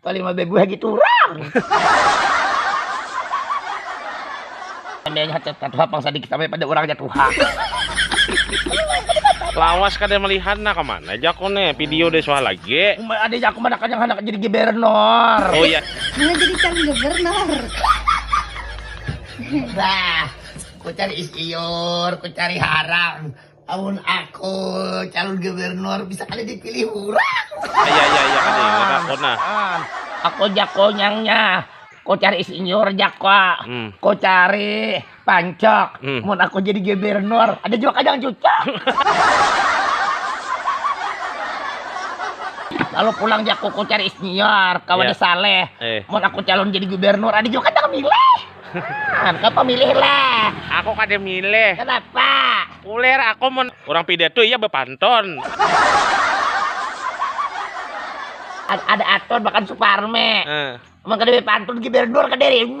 Paling mah bebu haji turang. Pandainya hacat katuha pang sadikit sampai pada urangnya tuha. Lawas kada melihat nah kemana jako ne video deh suah lagi. Umai ada jako mana kanyang handak jadi gibernor. Oh iya. Mana jadi calon gubernur. Bah, ku cari isiur, ku cari harang. Amun aku calon gubernur bisa kada dipilih urang. Iya iya iya kada urang kona. Aku jako nyangnya. Ku cari isinyur jako. Hmm. Ku cari pancok. Hmm. Mun aku jadi gubernur ada jua kajang cucok. Lalu pulang jako ku cari isinyur kawan yeah. saleh. Eh. Mun aku calon jadi gubernur ada jua kajang milih. Nah, kapa milih lah? Aku kada milih. Kenapa? Kuler aku mun orang pidato iya bepantun. ada aton makan suparme. Uh. Emang kada bepantun ki berdur kada ini.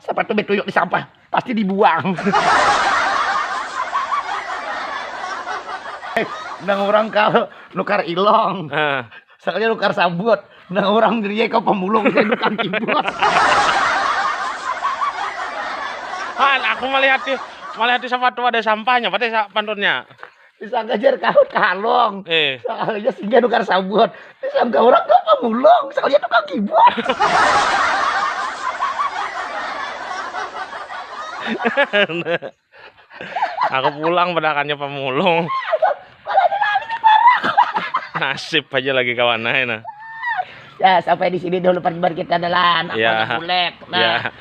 Siapa tuh betuyuk di sampah? Pasti dibuang. Eh, nang orang kal nukar ilong. Uh. Sekali nukar sabut. Nang orang diriye kau pemulung saya nukar kibut. Han, aku melihat di melihat di sepatu ada sampahnya, berarti pantunnya. disangka jar kahut kalong eh. soalnya singgah nukar sabun disangka orang gak pemulung soalnya tukang kibot aku pulang pedakannya pemulung nasib aja lagi kawan nah ya sampai di sini dulu perjumpaan kita adalah ya. nah ya.